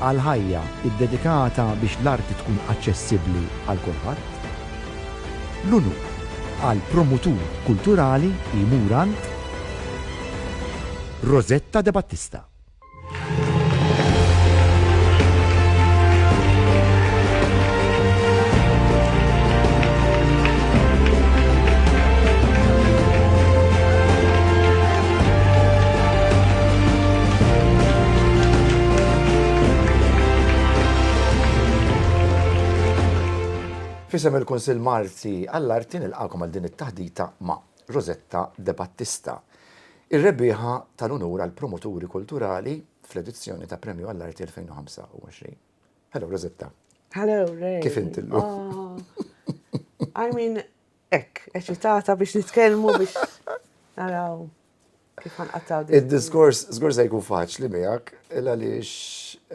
Għal ħajja ddedikata biex l-arti tkun aċċessibbli għal kulħadd. L-unur għal promutur kulturali li jmur għand Rosetta De Battista. Fisem il-Kunsill Malti għall-Arti nilqakom għal din it-taħdita ma' Rosetta De Battista, ir-rebbieħa tal-unur għal promoturi kulturali fl-edizzjoni ta' Premju għall-Arti 2025. Hello Rosetta. Hello Ray. Kif inti llum? Ah. I mean, Hekk, eċitata biex nitkellmu biex naraw kif ħanqattaw din. Id-diskors żgur se jkun faċli miegħek, il għaliex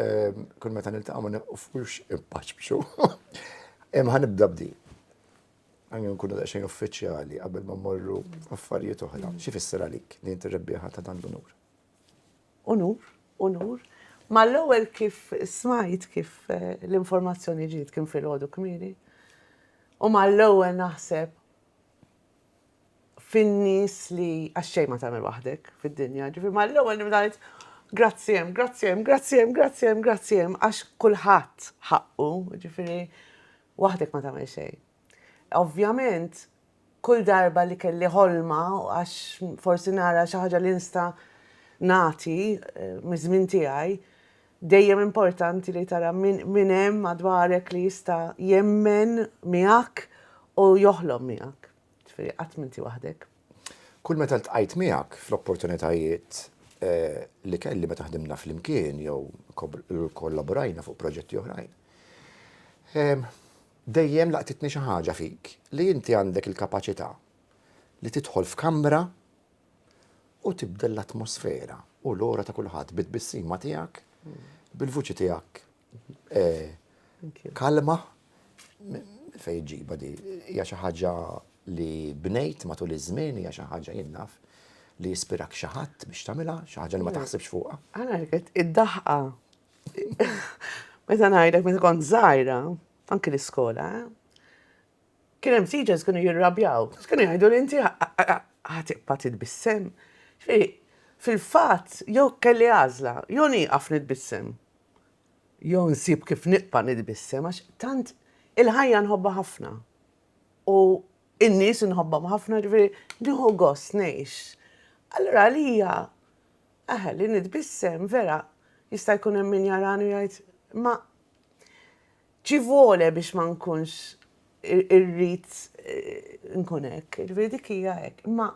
ehm, kull meta niltaqgħu ma nifux impaċċu. Imma ħanibda b'di. Għanju nkunu daqsxejn uffiċjali qabel ma morru affarijiet oħra. Xi fisser għalik li inti rebbieħa ta' dan l-unur? Unur, unur. Mal-ewwel kif smajt kif l-informazzjoni ġiet kien filgħodu kmieni, u mal-ewwel naħseb fin-nies li għax xejn ma tagħmel waħdek fid-dinja, ġifieri mal-ewwel nibda ngħid grazzi hemm, grazzi hemm, grazzi hemm, grazzi hemm, grazzi hemm għax kulħadd ħaqqu, ġifieri waħdek ma tagħmel xejn. Ovvjament Kull darba li kelli ħolma għax forsi nara xi ħaġa li nista' nagħti miż-żmien tiegħi, dejjem importanti li tara min hemm madwarek li jista' jemmen miegħek u joħlom miegħek. Ġifieri qatt m'inti waħdek. Kull meta ltqajt miegħek fl-opportunitajiet li kelli meta ħdimna flimkien jew kollaborajna fuq proġetti oħrajn, Dejjem laqtitni xi ħaġa fik li inti għandek il-kapaċità li tidħol f'kamra u tibdel l-atmosfera u l-ora ta' kulħadd bit-tbissima tiegħek, bil-vuċi tiegħek kalma. Minn fejn iġġibha di? Hija xi ħaġa li bnejt matul iż-żmien, hija xi ħaġa jien naf li jispirak xi ħadd biex tagħmilha, xi ħaġa li ma taħsibx fuqha? Għala rrid id-daħqa Meta ngħidlek meta kont żgħira, anki l-iskola, kien hemm teachers kienu jirrabjaw, kienu jgħidu li inti ħatibqa' titbissem. Fil-fatt, jew kelli għażla, jew nieqaf nitbissem. Jew nsib kif nibqa' nitbissem għax tant il-ħajja nħobba ħafna. U in-nies nħobbhom ħafna ġifieri nieħu gost ngħix. Allura għalija Eħe, li nitbissem, vera, jista' jkun hemm min jarani u jgħid, ma ci vuole biex ma nkunx irrid nkun hekk, ġifieri dik hija hekk. Imma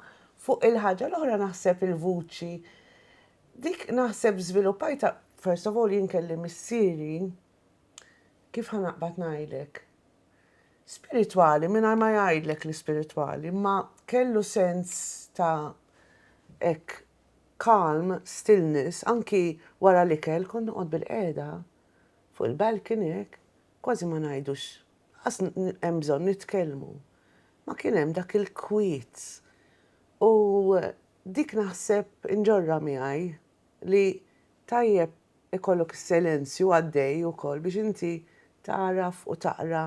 fuq il-ħaġa l-oħra naħseb il-vuċi dik naħseb żviluppajta first of all jien kelli missieri kif ħanaqbad ngħidlek spiritwali mingħajr ma jgħidlek l-ispiritwali, ma kellu sens ta' hekk calm, stillness, anki wara l-ikel kont noqgħod bilqiegħda fuq il-balcony hekk, kważi ma ngħidux, lanqas hemm bżonn nitkellmu. Ma kien hemm dak il-kwiet. U dik naħseb inġorrha miegħi li tajjeb ikollok is-silenzju għaddej ukoll biex inti tagħraf u taqra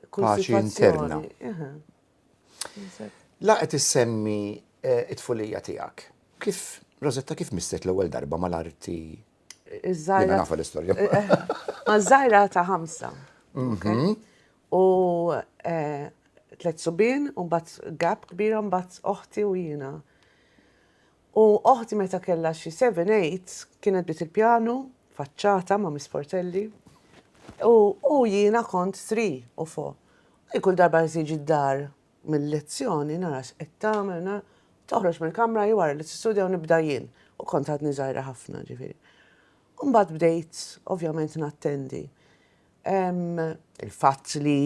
kull sitwazzjoni. Paċi interna. La qed issemmi t-tfulija tiegħek. Kif, Rosetta, kif missek l-ewwel darba mal-arti? Jiena nafa l-istorja. Maż-żgħira ta' ħamsa. Mhm. U tliet subien, u mbagħad gap kbira, mbagħad oħti u jiena. U oħti meta kellha xi seven, eight, kienet bdiet il-pjanu, faċċata ma' Miss Portelli. U u jiena kont three u four. U hi kull darba li tiġi d-dar mil-lezzjoni nara x'qed tagħmel, na, toħroġ mill-kamra hi wara li tistudja u nibda jien, u kont għadni żgħira ħafna, ġifieri. U mbagħad bdejt ovvjament nattendi. Il-fatt li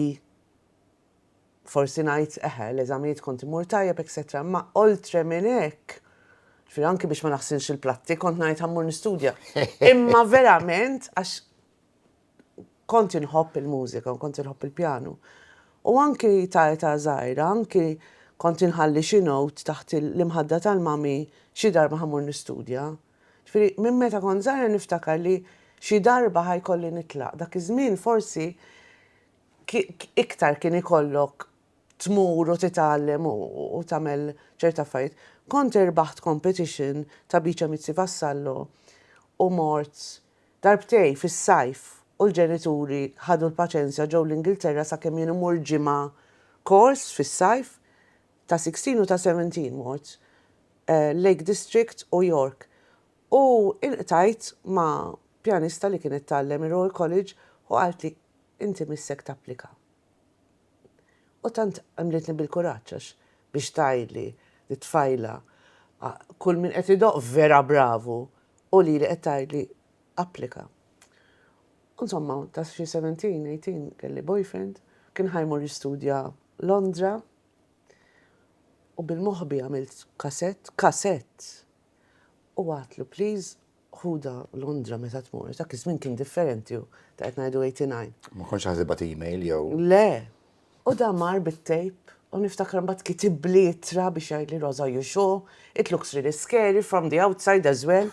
forsi ngħid, eħe, l-eżamijiet kont immur tajjeb etcetera, imma oltre minn hekk, ġifieri anki biex ma naħsilx il-platti kont ngħid ħa mmur nistudja. Imma verament għax kont inħobb il-mużika u kont inħobb il-pjanu. U anki ta' età żgħira, anki kont inħalli xi note taħt l-imħadda tal-mami xi darba ħa mmur nistudja. Ġifieri minn meta kont żgħira niftakar li xi darba ħa jkolli nitlaq. Dak iż-żmien forsi iktar kien ikollok tmur u titgħallem u tagħmel ċerta affarijiet. Kont irbaħt competition ta' Biċa Mizzi Vassallo u mort darbtejn fis-sajf u l-ġenituri ħadu l-paċenzja ġew l-Ingilterra sakemm jien immur ġimgħa kors fis-sajf ta' sixteen u ta' seventeen mort Lake District u York u ilqtajt ma' pjanista li kienet tgħallem ir-Royal College u qaltli Inti missek tapplika. U tant għemlitni bil-kuraġġ għax biex tgħidli li tfajla kull min qed idoqq vera bravu u lili qed tgħidli applika. U insomma ta' xi seventeen, eighteen kelli boyfriend, kien ħa jmur jistudja Londra u bil-moħbi għamilt kasett, kasett! u għadtlu please Ħudha Londra meta tmur, dak iż-żmien kien differenti u ta' qed ngħidu 89. Ma kontx ħa tibgħat email jew. Le. U da mar bit-tejp u niftakar imbagħad kitibli ittra biex jgħidli Rosa you sure? It looks really scary from the outside as well.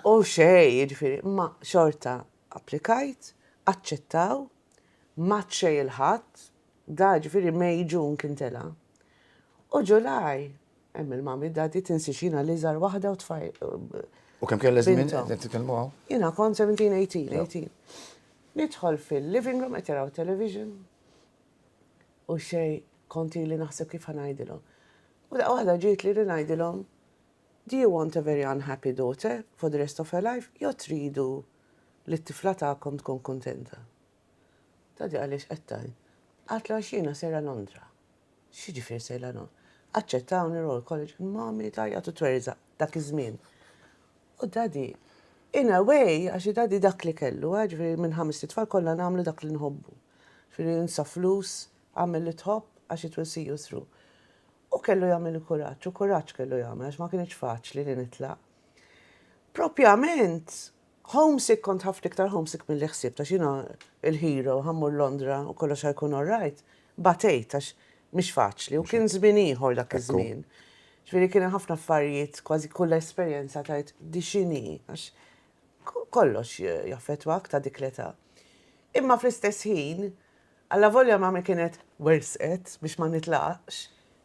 U xejn, jiġifieri, imma xorta applikajt, aċċettaw, m'għadd xejn il-Ħadd, da jiġifieri May, June kien tela'. U July Hemm il-mami, dadi, tinsiex jiena l-iżgħar waħda u tfaj. U kemm kellha żmien qed titkellmu hawn? Jiena kont 17, 18, 18. Nidħol fil-living room qed jaraw television. U xej kont ili naħseb kif ħanajdilhom. U daqqa waħda ġiet li ngħidilhom Do you want a very unhappy daughter for the rest of her life? Jo tridu li t-tifla tagħkom tkun kuntenta? Tgħaddi għaliex qed tgħin? Qaltlu għax jiena sejra Londra. X'jiġifier sejra Londra? Aċċettawni Royal College u mommy tgħajjat u twerżaq dak iż-żmien. U daddy, in a way, għax daddy dak li kellu, eh, ġifieri minn ħamest itfal kollha nagħmlu dak li nħobbu. Ġifieri insa flus, agħmel li tħobb għax it will see you through. Hu kellu jagħmel il-kuraġġ u kuraġġ kellu jagħmel għax ma kinitx faċli li nitlaq. Propjament Homesick kont ħafna iktar homesick milli ħsibt għax jiena l-hero ħa mmur Londra u kollox ħa jkun all right. Batejt għax mhix faċli u kien żmien ieħor dak iż-żmien. Ġifieri kien hemm ħafna affarijiet kważi kull esperjenza tgħid di x'inhi għax kollox jaffettwak ta' dik l-età. Imma fl-istess ħin Allavolja mami kienet wersqet biex ma nitlaqx,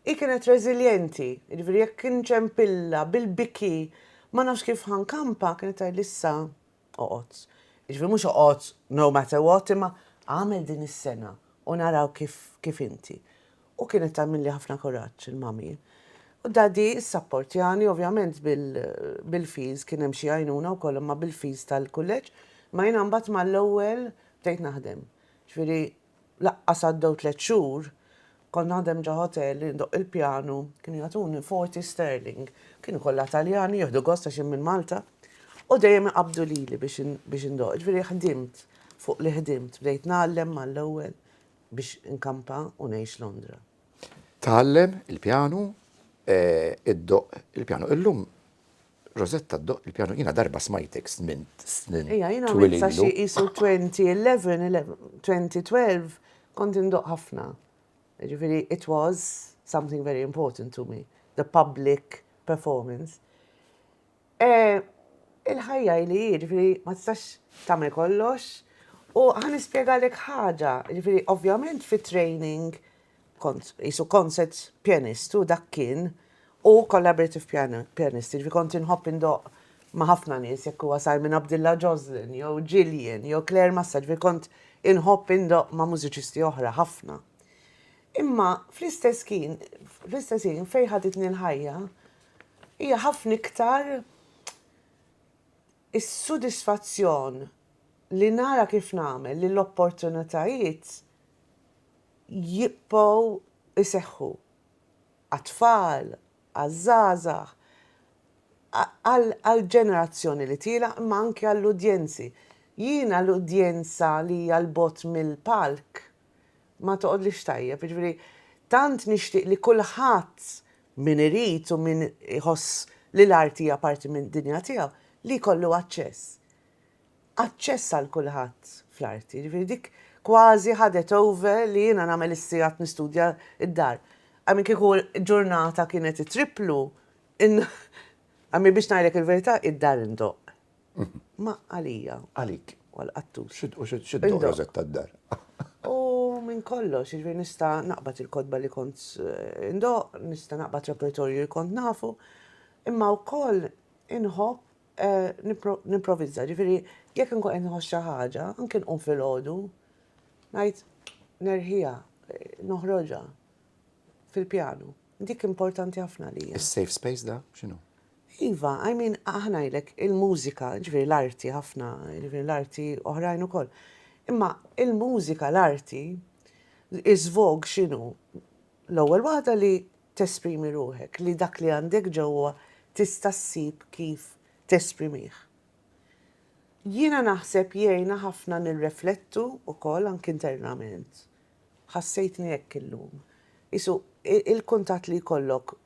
hi kienet reżiljenti, jiġifieri jekk kienx hemm pilla bil-biki ma nafx kif ħa nkampa, kienet tgħidli issa oqgħod. Jiġifieri mhux oqgħod no matter what imma agħmel din is-sena u naraw kif kif inti. U kienet tagħmilli ħafna kuraġġ il-mami. U daddy ssapportjani ovvjament bil bil-fees kien hemm xi għajnuna wkoll imma bil-fees tal-kulleġġ, imma jiena mbagħad mal-ewwel bdejt naħdem. Ġifieri laqqas għaddew tliet xhur, kont naħdem ġo ħotel, indoqq il-pjanu, kienu jagħtuni forty sterling. Kienu kollha Taljani, jieħdu gost għax jien minn Malta, u dejjem iqabbdu lili biex biex indoqq. Ġifieri ħdimt fuq li ħdimt, bdejt ngħallem mal-ewwel biex inkampa u ngħix Londra. Tgħallem il-pjanu, iddoqq il-pjanu. Illum Rosetta ddoqq il-pjanu. Jiena darba smajtek żmien snin twil ilu. Ejja, jiena għamilt sa xi qisu 2011, 2012, kont indoqq ħafna. Jiġifieri it was something very important to me, the public performance. Il-ħajja hi li hi, ġifieri ma tistax tagħmel kollox. U ħa nispjegalek ħaġa, ġifieri ovvjament fi training kont isu concert pianist u dak kien u collaborative pianist, ġifieri kont inħobb indoq ma' ħafna nies jekk huwa Simon Abdullah Joslin jew Gillian jew Claire Massa, ġifieri kont inħobb indoq ma' mużiċisti oħra ħafna. Imma fl-istess kien, fl-istess ħin fejn ħaditni l-ħajja, Hija ħafna iktar is-sodisfazzjon li nara kif nagħmel li l-opportunitajiet jibqgħu jseħħu għat-tfal, għaż-żgħażagħ, għall-ġenerazzjoni li tielaq imma anki għall-udjenzi. Jiena l-udjenza li hija 'l bogħod mill-palk ma toqgħodlix tajjeb, jiġifieri tant nixtieq li kulħadd min irid u min iħoss li l-art hija parti mid-dinja tiegħu li jkollu aċċess. Aċċess għal kulħadd fl-arti, jiġifieri dik kważi ħadet over li jiena nagħmel is-sigħat nistudja d-dar. Għamil kieku ġurnata kienet it-triplu, għamil biex ngħidlek il-verità id-dar indoqq. Ma għalija. Għalik. U għall-qattus. U x'iddoq Rosetta d-dar. U minn kollox, jiġifieri nista' naqbad il-kotba li kont indoqq, nista' naqbad repertorju li kont nafu, imma wkoll inħobb nimprovizza, jiġifieri jekk inkun qed nħoss xi ħaġa, anke nqum filgħodu, ngħid nerħiha, noħroġha fil-pjanu. Dik importanti ħafna għalija. Is-safe space da x'inhu? Iva, I mean, aħna jlek il-mużika, ġviri l-arti ħafna, ġviri l-arti oħrajn ukoll. Imma il-mużika, l-arti, iż-żvog xinu? L-ewwel waħda li tesprimi ruħek, li dak li għandek ġewwa tista' ssib kif tesprimih. Jiena naħseb jgħina ħafna nirreflettu ukoll anki internament. Ħassejtni hekk illum. Qisu, il-kuntatt li jkollok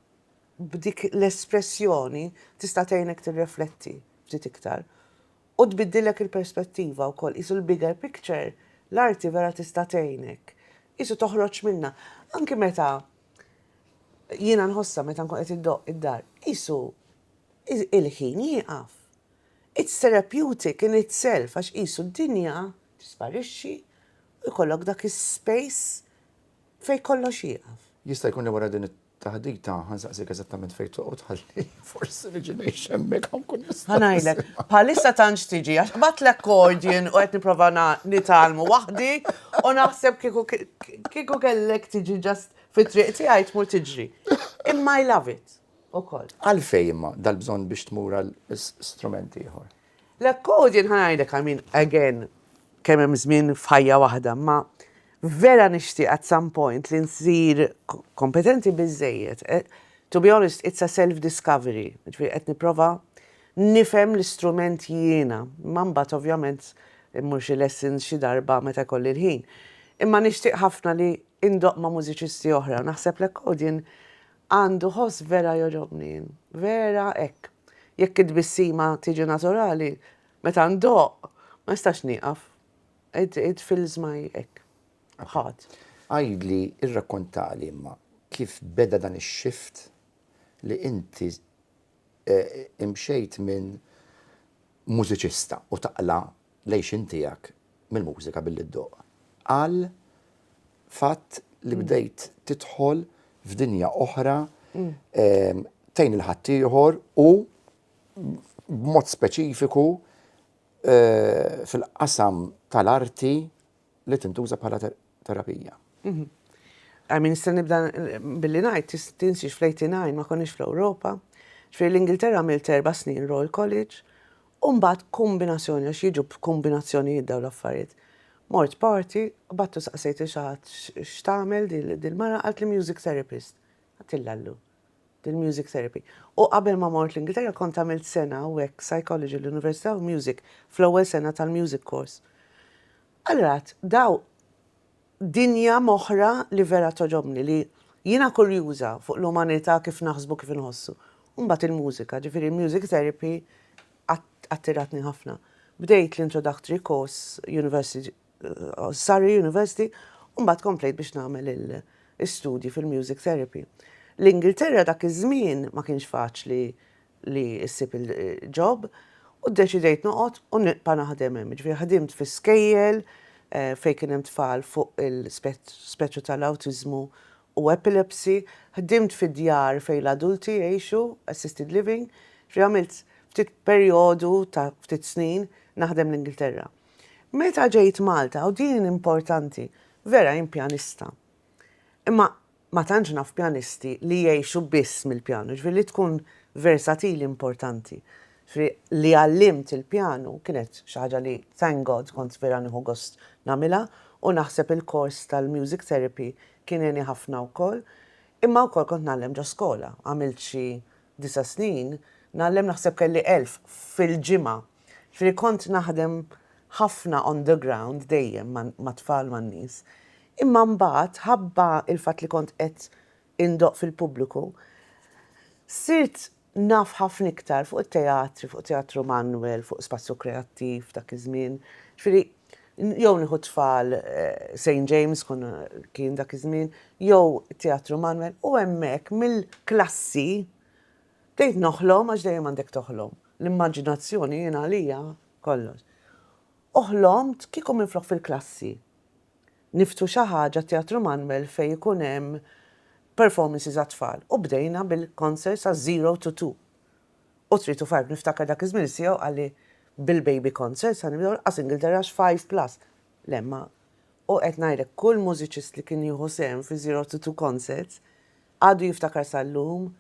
b'dik l-espressjoni tista' tgħinek tirrefletti ftit iktar. U tbiddillek il-perspettiva wkoll. Qisu l-bigger picture, l-arti vera tista' tgħinek. Qisu toħroġ minnha. Anki meta jiena nħossha meta nkun qed iddoqq id-dar, qisu il-ħin jieqaf. It's therapeutic in itself għax qisu d-dinja tisparixxi Ikollok dak is-space fejn kollox jieqaf. Jista' jkun li wara din it-taħdita ħa nsaqsik eżattament fejn toqgħod ħalli forsi niġi ngħix hemmhekk ħa nkun nista'. Ħa ngħidlek, bħalissa tantx tiġi għax qbadt l-accordion u qed nipprova nitgħallmu waħdi u naħseb kieku kieku kellek tiġi just fit-triq tiegħi tmur tiġri. Imma I love it ukoll. Għalfejn imma dal-bżonn biex tmur għal strument ieħor? L-accordion ħa ngħidlek I mean again kemm hemm żmien f'ħajja waħda imma vera nixtieq at some point li nsir kompetenti biżżejjed to be honest it's a self discovery jiġifieri qed nipprova nifhem l-istrument jiena imma mbagħad ovvjament immur xi lessons xi darba meta jkolli l-ħin. Imma nixtieq ħafna li indoqq ma' mużiċisti oħra u naħseb l-accordion Għandu ħoss vera jogħġobni jien. Vera hekk. Jekk it-tbissima tiġi naturali, meta ndoqq, ma nistax nieqaf. It, it fills my hekk, heart. Għidli, irrakkontali imma, kif beda dan ix-shift li inti imxejt minn mużiċista u taqla' l-għixien tiegħek mill-mużika billi ddoqq għal fatt li bdejt tidħol f'dinja oħra tgħin lil ħaddieħor u b'mod speċifiku fil-qasam tal-arti li tintuża bħala terapija. I mean, nista' nibda billi ngħid, tinsiex fl-89 ma konniex fl-Ewropa, ġifieri l-Ingilterra għamilt erba' snin Royal College, u mbagħad kombinazzjoni għax jiġu b'kombinazzjonijiet dawn l-affarijiet. Mort party, battu saqsejt il xi ħadd x'tagħmel dil-mara, qaltli music therapist. Għattilha llum. il-music therapy. U qabel ma mort l-Ingilterra kont għamilt sena hawnhekk psychology l-Università u music fl-ewwel sena tal-music course. Allura għedt, daw dinja m'oħra li vera togħġobni li jiena kurjuża fuq l-umanità kif naħsbu kif inħossu. U mbagħad il-mużika, ġifieri l-music therapy attiratni ħafna. Bdejt l-introductory course, university Surrey University u mbagħad komplejt biex nagħmel l-istudji fil-music therapy. L-Ingilterra dak iż-żmien ma kienx faċli li ssib il-job u ddeċidejt noqgħod u nibqa' naħdem hemm. Jiġifieri ħdimt fi skejjel fejn kien hemm tfal fuq il-spettru tal-awtiżmu u epilepsy, ħdimt fi djar fejn l-adulti jgħixu, assisted living, ġifieri għamilt ftit perjodu ta' ftit snin naħdem l-Ingilterra. Meta ġejt Malta, u din importanti, vera jien pjanista. Imma ma tantx naf pjanisti li jgħixu biss mill-pjanu, jiġifieri li tkun versatili importanti. Jiġifieri li għallimt il-pjanu kienet xi ħaġa li thank God kont vera nieħu gost nagħmilha u naħseb il-kors tal-music therapy kien għeni ħafna wkoll. Imma wkoll kont ngħallem ġo skola, għamilt xi disa' snin nagħllem naħseb kelli elf fil-ġimgħa. Ġifieri kont naħdem ħafna on the ground dejjem mat-tfal man-nies. Imma mbagħad ħabba l-fatt li kont qed indoqq fil-pubbliku, sirt naf ħafna iktar fuq it-teatri, fuq Teatru Manuel, fuq Spazju Kreattiv dak iż-żmien. Ġifieri jew nieħu t-tfal Saint James konna kien dak iż-żmien, jew Teatru Manuel u hemmhekk mill-klassi, Tgħid noħlom għax dejjem għandek toħlom. L-immaġinazzjoni jien għalija kollox. U ħlomt kieku minflok fil-klassi niftħu xi ħaġa t-Teatru Manuel fejn ikun hemm performances għat-tfal u bdejna bil-concerts għal zero to two u three to five. Niftakar dak iż-żmien is-CEO qalli bil-baby concerts ħa nibdew lanqas Ingilterra għax five plus. Le ma u qed ngħidlek kull mużiċist li kien jieħu sehem fi zero to two concerts Għadu jiftakar sal-lum,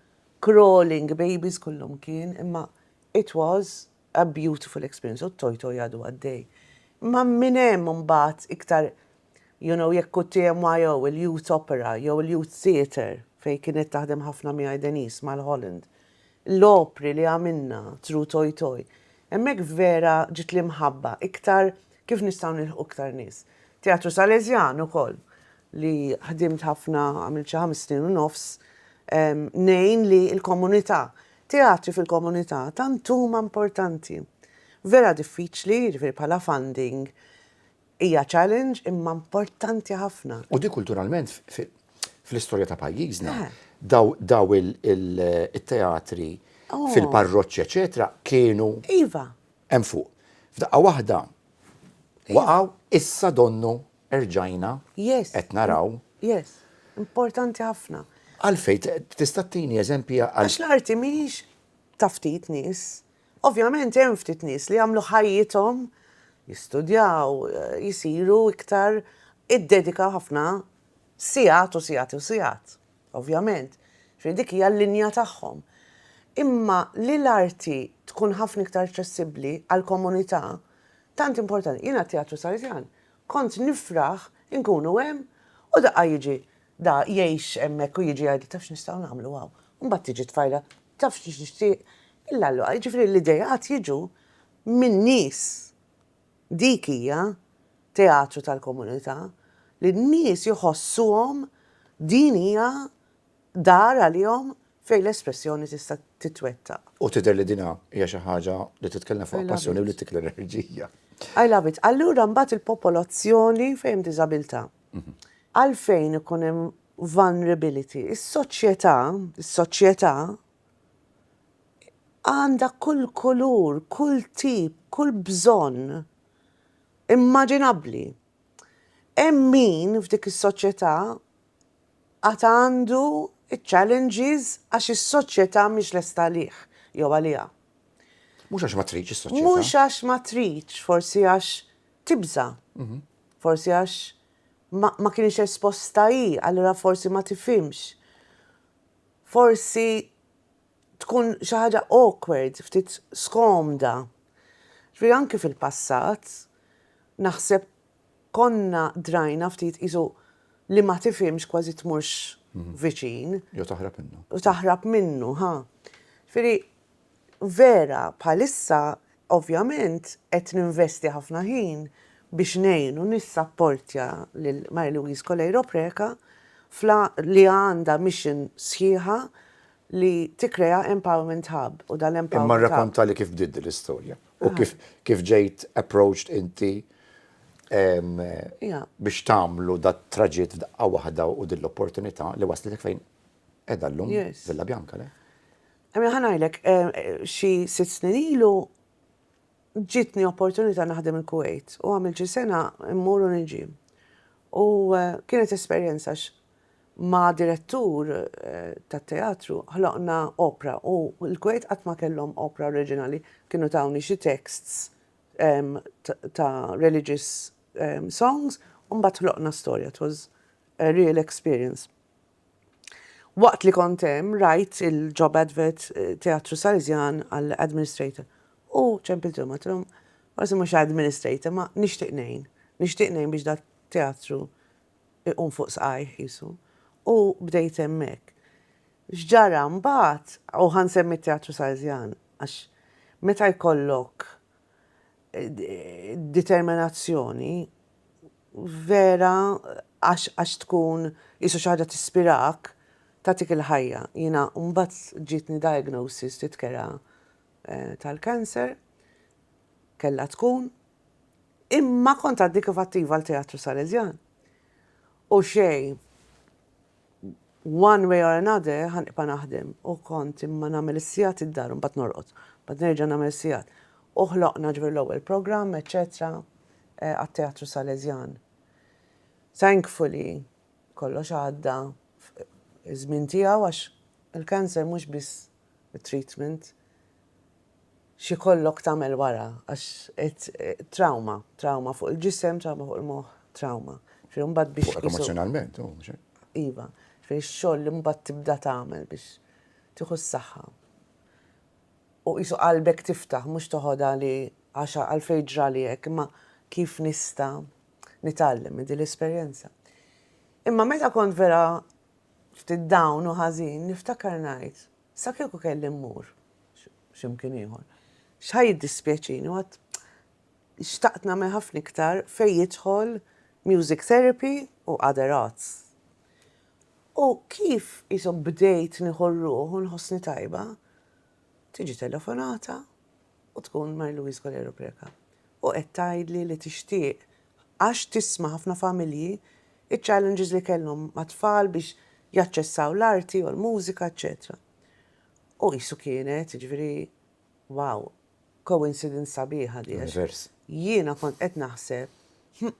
crawling babies kullumkien, imma it was a beautiful experience u t-Toy Toy għadu għaddej. Imma minn hemm imbagħad iktar you know jekk hu t-TMYO, il-Youth Opera jew il-Youth Theatre fejn kienet taħdem ħafna miegħi Denise mal-Holland, l-opri li għamilna through Toy Toy, hemmhekk vera ġiet l-imħabba iktar kif nistgħu nilħqu iktar nies. Teatru Salesian ukoll, li ħdimt ħafna, għamilt xi ħames snin u nofs, ngħin li l-komunità, teatri fil-komunità tant huma importanti. Vera diffiċli, jiġifieri bħala funding hija challenge imma importanti ħafna. U dik kulturalment fl-istorja ta' pajjiżna daw it-teatri fil-parroċċi eċetera kienu hemm fuq. F'daqqa waħda waqgħu issa donnu erġajna qed naraw. Yes, importanti ħafna. Għalfejn? Tista' ttini eżempji għal. Għax l-arti mhijiex ta' ftit nies. Ovvjament hemm ftit nies li jagħmlu ħajjithom jistudjaw, jsiru iktar, iddedikaw ħafna sigħat u sigħat u sigħat. Ovvjament. Jiġifieri dik hija l-linja tagħhom. Imma li l-arti tkun ħafna iktar aċċessibbli għall-komunità tant importanti. Jiena t-Teatru Salesian Kont nifraħ inkunu hemm u daqqa jiġi da jgħix hemmhekk u jiġi jgħidli taf x'nistgħu nagħmlu hawn. U mbagħad tiġi t-tfajla taf x'nixtieq il-għalluqa. Jiġifieri l-ideat jiġu minn nies. Dik hija teatru tal-komunità li n-nies jħossuhom din hija dar għalihom fejn l-espressjoni tista' titwettaq. U tidher li din hija xi ħaġa li titkellem fuqha passjoni u li ttik l-enerġija. I love it. Allura mbagħad il-popolazzjoni fejn hemm diżabilità. Għalfejn ikun hemm vulnerability? Is-soċjetà, is-soċjetà għandha kull kulur, kull tip, kull bżonn immaġinabbli. Hemm min f'dik is-soċjetà għad għandu ċ-challenges għax is-soċjetà mhix lesta għalih jew għaliha. Mhux għax ma tridx is-soċjetà. Mhux għax ma tridx, forsi għax tibża'. Forsi għax ma kienx esposta hi, allura forsi ma tifhimx. Forsi tkun xi ħaġa awkward, ftit skomda. Ġifieri anki fil-passat naħseb konna drajna ftit qisu li ma tifhimx kważi tmurx viċin. Jew taħrab minnu. U taħrab minnu, ha. Ġifieri vera bħalissa ovvjament qed ninvesti ħafna ħin biex ngħin u nissapportja lil Mary Louise Coleiro Preca li għandha mission sħiħa li tikkrea empowerment hub u dal-empowerment hub. Imma rrakontali kif bdiet din l-istorja. U kif kif ġejt approached inti biex tagħmlu dat traġitt f'daqqa waħda u din l-opportunità li waslitek fejn qiegħda llum Villa Bianca, le? Mela ħa ngħidlek, xi sitt snin ilu ġietni opportunità naħdem il-Kuwejt u għamilt xi sena mmur u niġi. U kienet esperjenza għax Ma' direttur tat-teatru ħloqna opra u l-Kuwait qatt ma kellhom opra oriġinali. Kienu tawni xi texts ta' religious songs u mbagħad ħloqna storja. It was a real experience. Waqt li kont hemm rajt il-job advert Teatru Salesian għal administrator u ċempilthom għedthom forsi mhux administrator ma nixtieq ngħin. Nixtieq ngħin biex dat-teatru iqum fuq saqajh qisu. U bdejt hemmhekk. X'ġara mbagħad, u ħa nsemmi t-Teatru Salesjan, għax meta jkollok determinazzjoni vera għax tkun qisu xi ħaġa tispirak, tagħtik il-ħajja. Jiena mbagħad ġietni diagnosis titkera tal-cancer, kellha tkun. Imma kont għadni kif attiva għal Teatru Salesjan. U xej, one way or another, ħan ipa naħdem. U kont imma namel is-sijat id-dar, un bat norqot. Bat nerġa namel sijat. U ħloqna ġvir l-ewel program, eccetera, eh, għat-Teatru Salesjan. Thankfully, kollox għadda żmien tiegħu għax il-cancer mhux biss treatment x'ikollok tagħmel wara għax qed trawma, trawma fuq il-ġisem, trawma fuq il-moħħ, trawma. Ġifieri mbagħad biex. Fuqek emozzjonalment, oh, mhux hekk? Iva, ġifieri x-xogħol li mbagħad tibda tagħmel biex tieħu s-saħħa. U qisu qalbek tiftaħ mhux toħodha li għax għalfejn ġrali hekk, imma kif nista' nitgħallem minn din l-esperjenza. Imma meta kont vera ftit down u ħażin, niftakar ngħid, Sa kieku kelli mmur x'imkien ieħor. X'ħa jiddispjaċini, u għad xtaqt nagħmel ħafna iktar fejn jidħol music therapy u other arts. U kif qishom bdejt nieħu r-ruħ u nħossni tajba, tiġi telefonata u tkun Mary Louise Colero Preca u qed tgħidli li tixtieq għax tisma' ħafna familji iċ-challenges li kellhom mat-tfal biex jaċċessaw l-arti u l-mużika eċċetera. U qisu kienet, jiġifieri, wow, coincidence sabiħa di għax jiena kont qed naħseb hm,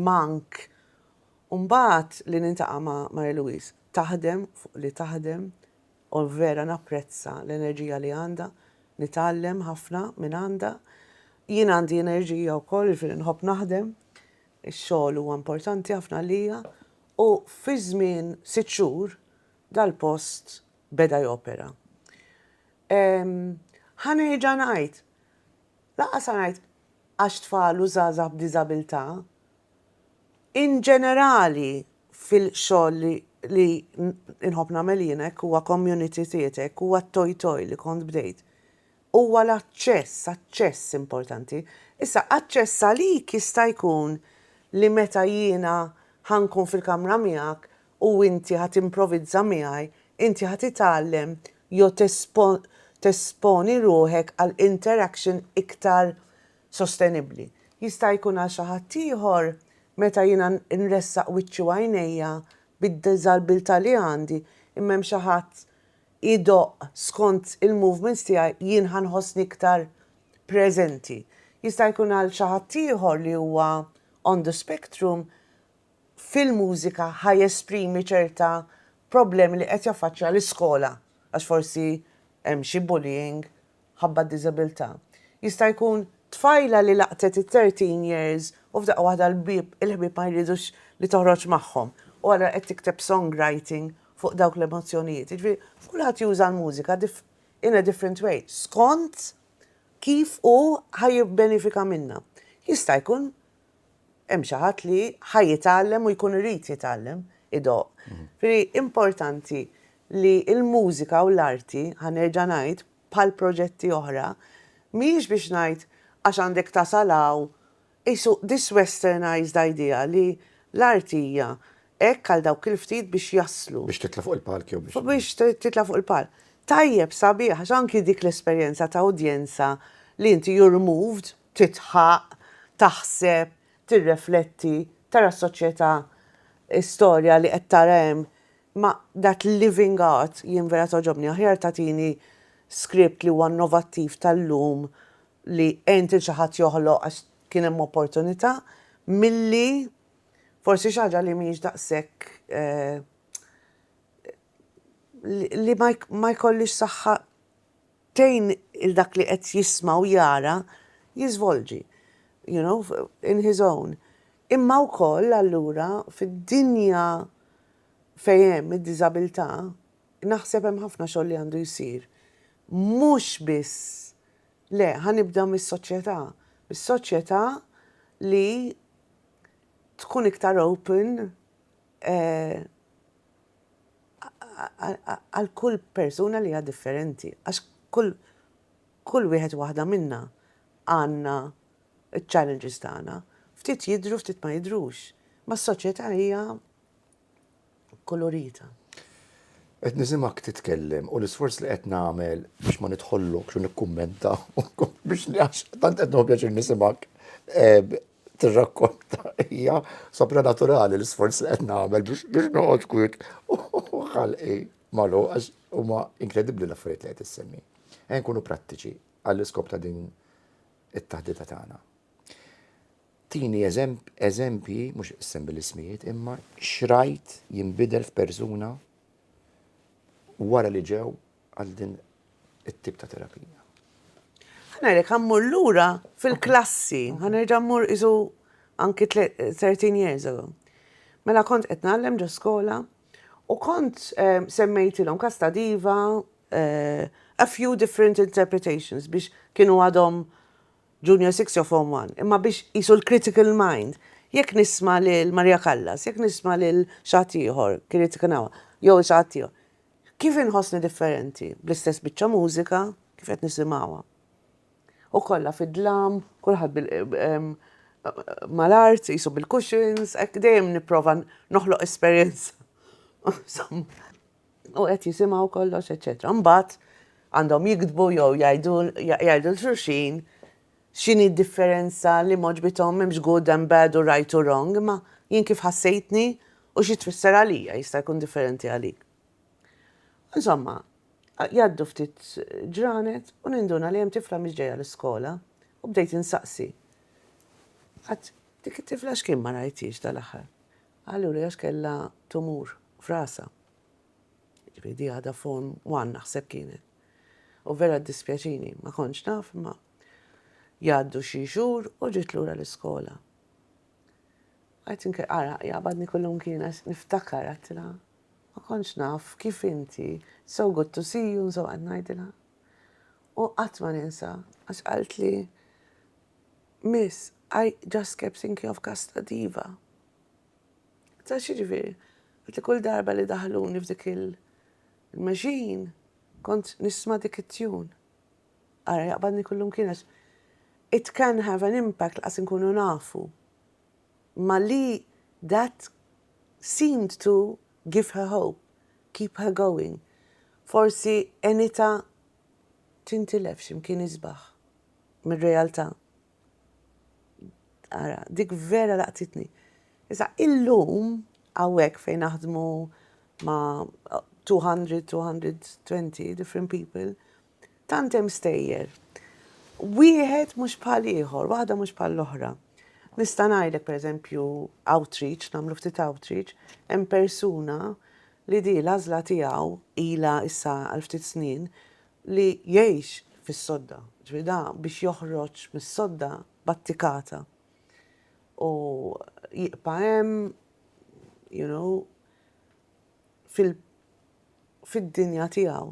mank. U mbagħad li nintaqa' ma' Mary Louise taħdem fuq li taħdem u vera napprezza l-enerġija li għandha, nitgħallem ħafna minn għandha. Jien għandi enerġija wkoll, jiġifieri nħobb naħdem, ix-xogħol huwa importanti ħafna għalija u fi żmien sitt xhur dal-post beda jopera. Ħa nerġa' ngħid, lanqas ħa ngħid għax tfal u żgħażagħ b'diżabilità, In ġenerali fil-xogħol li nħobb nagħmel jien hekk huwa community theatre, hekk huwa t-toj toj li kont bdejt. Huwa l-aċċess, aċċess importanti. Issa aċċess għalik jista' jkun li meta jiena ħa nkun fil-kamra miegħek u inti ħa timprovizza miegħi, inti ħa titgħallem jew tesponi ruħek għal interaction iktar sostenibbli. Jista' jkun għal xi ħaddieħor, meta jiena nressaq wiċċi u għajnejja bid-diżabbiltà li għandi, imma hemm xi ħadd idoqq skont il-movements tiegħi, jien ħa nħossni iktar preżenti. Jista' jkun għal xi ħaddieħor li huwa on the spectrum, fil-mużika ħa jesprimi ċerta problemi li qed jaffaċċja l-iskola għax forsi hemm xi bullying ħabba diżabilità. Jista' jkun tfajla li laqtet it-thirteen years u f'daqqa waħda l-bieb il-ħbieb ma jridux li toħroġ magħhom u allura qed tikteb songwriting fuq dawk l-emozzjonijiet. Jiġifieri kulħadd juża l-mużika in a different way skont kif hu ħa jibbenefika minnha. Jista' jkun hemm xi ħadd li ħa jitgħallem u jkun irid jitgħallem idoqq. Ġifieri importanti li l-mużika u l-arti, ħa nerġa' ngħid, bħal proġetti oħra, mhijiex biex ngħid għax għandek tasal hawn, qisu this westernised idea li l-art hija hekk għal dawk il-ftit biex jaslu. Biex titla' fuq il-palk jew biex. Biex titla' fuq il-palk. Tajjeb, sabiħ, għax anki dik l-esperjenza ta' udjenza li inti you're moved tidħaq, taħseb, tirrefletti, tara s-soċjetà, is-storja li qed tara hemm. Ma that living art jien vera togħġobni. Aħjar tagħtini script li huwa innovattiv tal-lum li għint lil xi ħadd joħloq għax kien hemm opportunità milli forsi xi ħaġa li mhijiex daqshekk li ma jkollhiex saħħa Tgħin lil dak li qed jisma' u jara jiżvolġi, you know, in his own. Imma wkoll allura fid-dinja fejn hemm id-diżabilità naħseb hemm ħafna xogħol li għandu jsir. Mhux biss, le, ħa nibda mis-soċjetà, mis-soċjetà li tkun iktar open għal kull persuna li hija differenti għax kull kull wieħed waħda minna għandna ċ-challenges tagħna. Ftit jidru, ftit ma jidrux. Ma s-soċjetà hija kolorita. Qed nisimgħek titkellem u l-isforz li qed nagħmel biex ma nidħollokx u nikkummenta biex tant qed nħobb pjaċir nisimgħek. Eh, tirrakkonta hija sopranaturali l-isforz li qed nagħmel biex noqgħod kwiet u ħalqi malu għax huma inkredibbli l-affarijiet li qed issemmi. Ejn kunu prattiċi għall-iskop ta' din it-taħdita tagħna. Tini eżempji, mhux issemmi l-ismijiet, imma xrajt jinbidel f'persuna wara li ġew għal din it-tip ta' terapija. Ħa ngħidlek ħa mmur lura fil-klassi, ħa nerġa' mmur isu anki 13 years ago. Mela kont qed nagħllem ġo skola u kont eh, semmejtilhom kas ta' diva eh, a few different interpretations biex kienu għadhom junior 6 jew form 1, imma biex jisu l-critical mind. Jekk nisma lil Maria Callas, jekk nisma lil xaħtiħor, kienet kanawa, jew xaħtiħor, Kif inħossni differenti, bl-istess biċċa mużika, kif qed nisimgħuha? U kollha fid-dlam, kulħadd bil mal-art, jisu bil-cushions, hekk dejjem nipprova noħloq esperjenza. U qed jisimgħu kollox, eċetera. Mbagħad għandhom jiktbu jew jgħidu l-xulxin X'inhi d-differenza li m'għoġbithom m'hemmx good and bad u right u wrong imma jien kif ħassejtni u xi tfisser għalija jista' jkun differenti għalik. Insomma, jgħaddu ftit ġranet u ninduna li hemm tifla mhix ġejja l-iskola u bdejt insaqsi, Qatt dik it-tifla x'kien ma rajthiex dal-aħħar? Qaluli għax kellha tumur f'rasha. Jiġifieri di għadha form one naħseb kienet. U vera ddispjaċini, ma kontx naf imma Jgħaddu xi xhur u ġiet lura l-iskola. Qed inke ara jaqbadni kullimkien għax niftakar għedtilha ma kontx naf kif inti so good to see you nżgħu qed ngħidilha. U qatt ma ninsa għax qaltli Miss, I just kept thinking of Casta Diva. Ta' xi ġifieri? Għaltli kull darba li daħluni f'dik il-machine kont nisma' dik it-tune. Ara jaqbadni kullum kien għax it can have an impact laqas inkunu nafu. Imma li that seemed to give her hope, keep her going. Forsi għenitha tintilef xi mkien isbaħ mir-realtà. Ara, dik vera laqtitni. Issa illum hawnhekk fejn naħdmu ma' 200, 220 different people, Tant hemm stejjer. Wieħed mhux bħal ieħor, waħda mhux bħal l-oħra. Nista' ngħidlek pereżempju outreach, nagħmlu ftit outreach, hemm persuna li di l-għażla tiegħu ilha issa għal ftit snin li jgħix fis-sodda. Ġifieri da biex joħroġ mis-sodda battikata. U jiqpa' hemm, you know, fil fid-dinja tiegħu.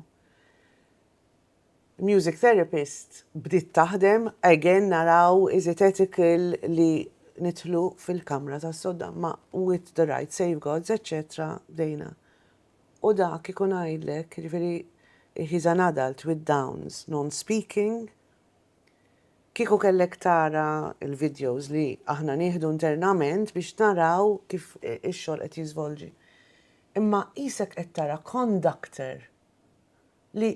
Music therapist bdiet taħdem, again naraw is it ethical li nidħlu fil-kamra tas-sodda ma with the right safeguards, etc. Bdejna. U dak ikun għajdlek, jiġifieri he's an adult with downs, non-speaking, Kieku kellek tara l-vidjows li aħna nieħdu internament biex naraw kif ix-xogħol qed jiżvolġi. Imma qisek qed tara conductor li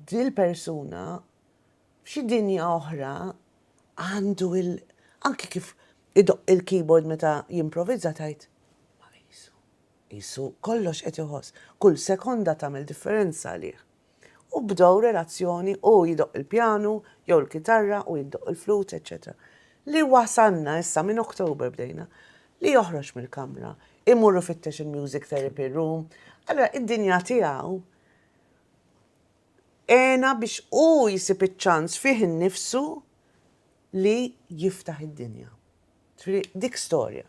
dil-persuna f'xi dinja oħra għandu il anki kif idoqq il-keyboard meta jimprovizza tgħid ma qisu qisu kollox qed iħoss. Kull sekonda tagħmel differenza għalih. u bdew relazzjoni hu jdoqq il-pjanu jew il-kitarra u hi ddoqq il-flute eċċetera. Li wasalna issa minn October bdejna li joħroġ mill-kamra, imur ifittex il-music therapy room, allura id-dinja tiegħu għena biex hu jsib iċ-ċans fih innifsu li jiftaħ id-dinja. Triq dik storja.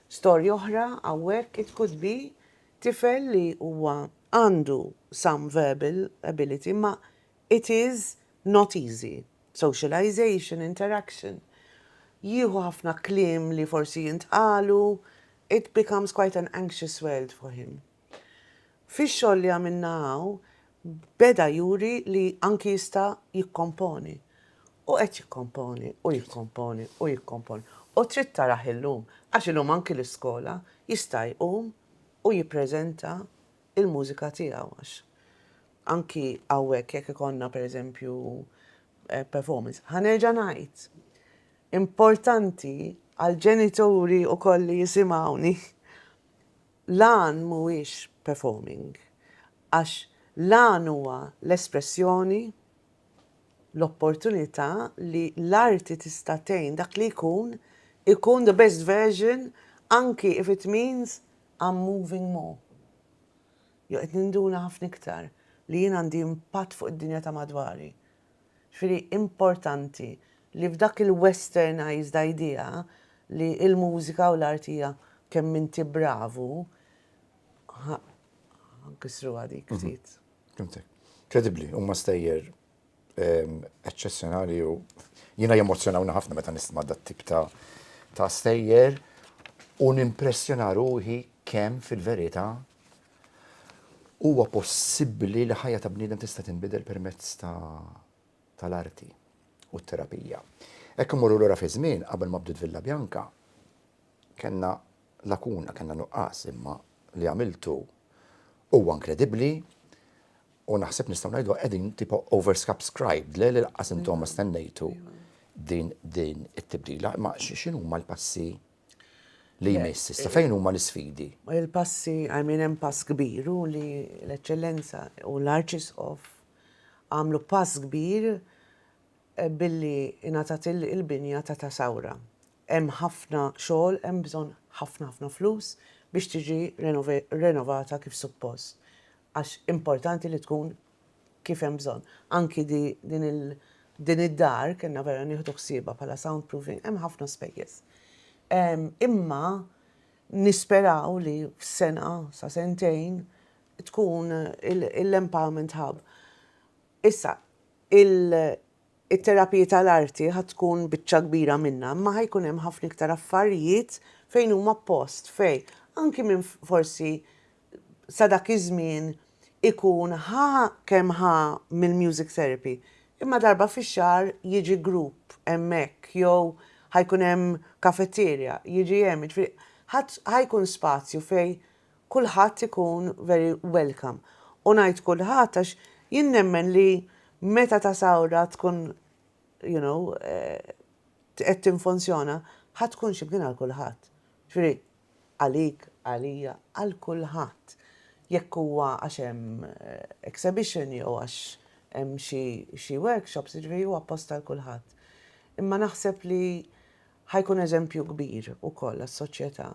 Storja oħra hawnhekk it could be tifel li huwa għandu some verbal ability imma it is not easy. Socialization, interaction. Jieħu ħafna kliem li forsi jintqalu, it becomes quite an anxious world for him. Fix-xogħol li għamilna hawn beda juri li anki jista' jikkomponi. U qed jikkomponi u jikkomponi u jikkomponi. U trid tarah illum, għax illum anki l-iskola jista' jqum u jippreżenta l-mużika tiegħu għax anki hawnhekk jekk ikollna pereżempju performance. Ħa nerġa' ngħid, importanti għall-ġenituri wkoll li jisimgħuni l-għan mhuwiex performing għax l-għan huwa l-espressjoni, l-opportunità li l-arti tista' tgħin dak li jkun ikun the best version anki if it means I'm moving more jew qed ninduna ħafna iktar li jien għandi impatt fuq id-dinja ta' madwari. Ġifieri importanti li f'dak il-westernised idea li l-mużika u l-art hija kemm inti bravu, ħa nkissruha dik ftit. Fhimtek. Kredibbli, huma stejjer eċċezzjonali u jiena jemmozzjonawni ħafna meta nisma' dat tip ta' ta' stejjer u nimpressjona ruħi kemm fil-verità Huwa possibbli li ħajja ta' bniedem tista' tinbidel permezz ta' tal-arti u t-terapija. Hekk immorru lura fiż-żmien qabel ma bdiet Villa Bianca, kellna lakuna, kellna nuqqas, imma li għamiltu huwa inkredibbli u naħseb nistgħu ngħidu qegħdin tipo overscubscribed, le li laqqas intom ma stennejtu din din it-tibdila. Imma x'inhuma l-passi? li jmiss issa? Fejn huma l-isfidi? Il-passi, I mean hemm pass kbir u li l-Eċċellenza u l-Arċisqof għamlu pass kbir eh, billi ingħatat il-binja ta' ta' sawra. Hemm ħafna xogħol, hemm bżonn ħafna ħafna flus biex tiġi renovata kif suppost. Għax importanti li tkun kif hemm bżonn. Anki din il din id-dar kellna vera nieħdu ħsiebha bħala soundproofing, hemm ħafna spejjeż. Imma nisperaw li f'sena sa sentejn tkun l-empowerment hub. Issa, it-terapiji tal-arti ħa tkun biċċa kbira minnha, imma ħa jkun hemm ħafna iktar affarijiet fejn huma post fejn anki minn forsi sa dak iż-żmien ikun ħa kemm ħa mill-music therapy, imma darba fix-xahar jiġi grupp hemmhekk jew ħa jkun hemm kafetierja, jiġi hemm, jiġifieri ħa ħa jkun spazju fejn kulħadd ikun very welcome. U ngħid kulħadd għax jien nemmen li meta ta' sawra tkun you know qed tinfunzjona ħa tkun x'imkien għal kulħadd. Jiġifieri. Għalik, għalija, għal kulħadd. Jekk huwa għax hemm exhibition jew għax hemm xi workshops, jiġifieri huwa post għal kulħadd. Imma naħseb li ħajkun eżempju kbir ukoll għas-soċjetà.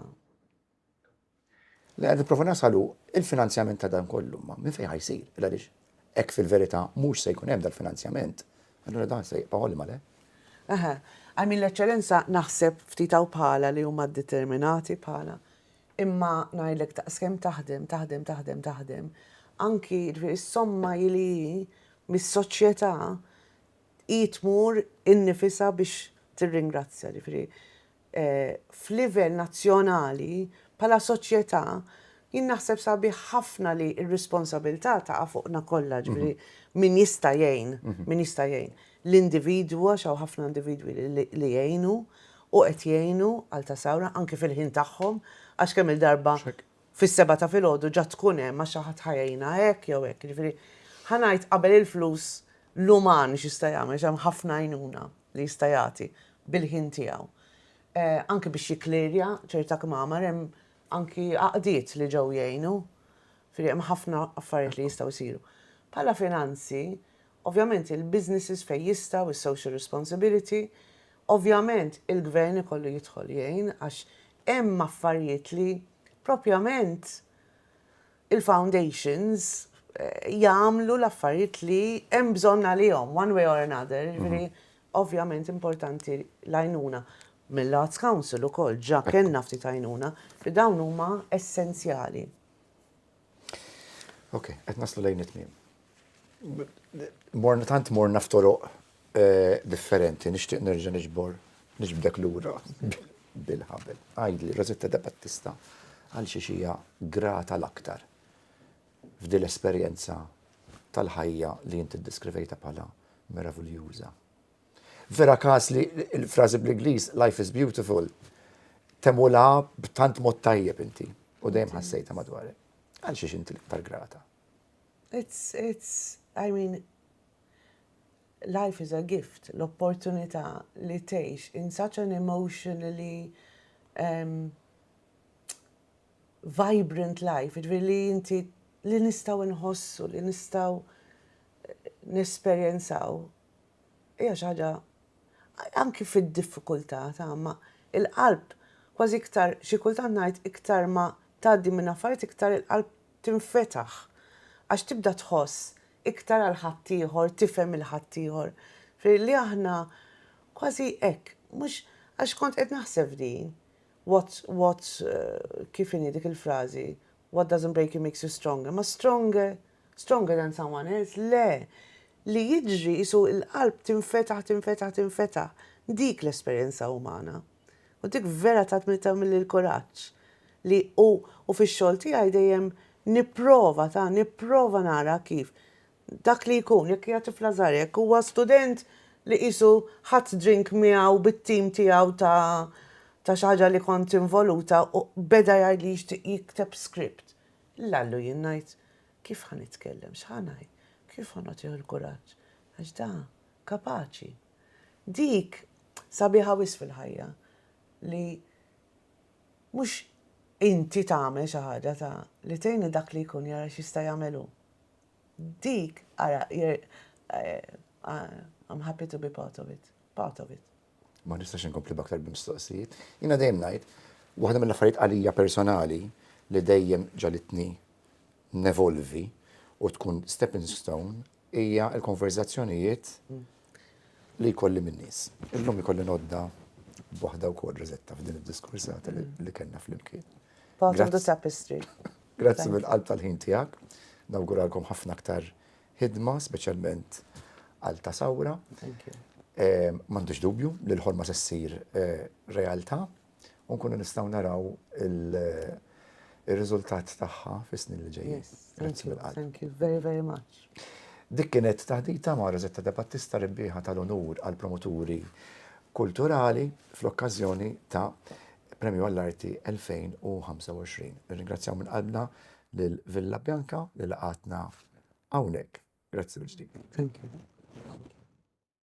Li qed nipprova nasal hu l-finanzjament ta' dan kollu, ma minn fejn ħa jsir? Għaliex Hekk fil-verità mhux se jkun hemm dal-finanzjament, allura dan se jibqa' ollima, le? Eħe. I mean, l-Eċċellenza, naħseb ftit hawn bħalha li huma determinati bħalha. Imma ngħidlek daqskemm taħdem, taħdem, taħdem, taħdem, anki, jiġifieri s-somma hi li hi mis-soċjetà hi tmur innifisha biex tirringrazzja, jiġifieri. f'livell nazzjonali bħala soċjetà jien naħseb sabiħ ħafna li r-responsabilità taqa' fuqna kollha, ġifieri min jista' jgħin, min jista' jgħin. L-individwu għax hawn ħafna individwi li jgħinu u qed jgħinu għal ta' sawra anke fil-ħin tagħhom għax kemm-il darba fis-sebgħa ta' filgħodu ġa tkun hemm għax xi ħadd ħa jgħinha hekk jew hekk. Jiġifieri ħa ngħid qabel il-flus l-uman x'jista' jagħmel għax hemm ħafna għajnuna. li jista' jagħti bil-ħin tiegħu anki biex jikklirja ċerta kmamar hemm anki għaqdiet li ġew jgħinu, firri hemm ħafna affarijiet li jistgħu jsiru. Bħala finanzi, ovvjament il-businesses fejn jistgħu, is-social responsibility, ovvjament il-gvern ikollu jidħol jgħin għax hemm affarijiet li propjament il-foundations jagħmlu l-affarijiet li hemm bżonn għalihom, one way or another, jiġifieri ovvjament importanti l-għajnuna mill-Arts Council ukoll, ġa kellna ftit għajnuna, li dawn huma essenzjali. Ok, qed naslu lejn it-tmiem. Tant morna f'toroq differenti nixtieq nerġa' niġbor niġbdek lura bil-ħabel. Għidli, Rosetta de Battista, għal xiex hija grata l-aktar f'din l-esperjenza tal-ħajja li inti ddeskrivejtha bħala meraviljuża. Vera każ li l-frażi bl-Ingliż life is beautiful temulha b'tant mod tajjeb inti u dejjem ħassejtha madwarek. Għal xiex inti l-iktar grata? It's, it's, I mean, Life is a gift, l-opportunità li tgħix in such an emotionally um, vibrant life, ġviri li inti li nistaw nħossu, li nistaw eh, nesperjenzaw, hija xaġa anki fid-diffikultà ta' ma il-qalb kważi iktar xi kultant ngħid iktar ma tgħaddi minn affarijiet iktar il-qalb tinfetaħ għax tibda tħoss iktar għal ħaddieħor, tifhem il-ħaddieħor. Ġifieri li aħna kważi hekk, mhux għax kont qed naħseb f'din, what's, what's, kif inhi dik il-frażi, what doesn't break you makes you stronger, ma stronger, stronger than someone else, le, li jiġri qisu l-qalb tinfetaħ, tinfetaħ, tinfetaħ, dik l-esperjenza umana. U dik vera tatni tagħmilli l-kuraġġ li u, u fix-xogħol tiegħi dejjem nipprova ta' nipprova nara kif dak li jkun, jekk hija tifla żgħira, jekk huwa student li qisu ħadt drink miegħu bit-tim tiegħu ta' ta' xi ħaġa li kont involuta u beda jgħid li jixtieq jikteb script. Lallu jien ngħid kif ħa nitkellem, x'ħa ngħid, kif ħa nagħtih il-kuraġġ, għax da kapaċi. Dik sabiħa wisq fil-ħajja li mhux inti tagħmel xi ħaġa ta' li tgħin lil dak li jkun jara x'jista' jagħmel hu. Dik ara I'm happy to be part of it. Part of it. Ma nistax inkompli b'aktar mistoqsijiet. Jiena dejjem ngħid, waħda mill-affarijiet għalija personali li dejjem ġalitni nevolvi u tkun stepping stone hija l-konverżazzjonijiet li jkolli min-nies. Illum ikolli nodda b'waħda wkoll Rosetta f'din id-diskursata li kellna flimkien. Part of the tapestry. Grazzi mill-qalb tal-ħin tiegħek. Nawguralkom ħafna aktar ħidma, speċjalment għal ta' sawra. M'għandux dubju li l-ħolma se ssir realtà. u nkunu nistgħu naraw il-riżultat tagħha fis-snin li ġejjin. Grazzi mill-qalb. Thank you very very much. Dik kienet taħdita ma' Rosetta De Battista rebbieħa tal-onur għal promoturi kulturali fl-okkażjoni ta' Premju għall-Arti 2025. Nirringrazzjaw minn qalbna lil Villa Bianca li laqatna hawnhekk. Grazzi mill-ġdid. Thank you.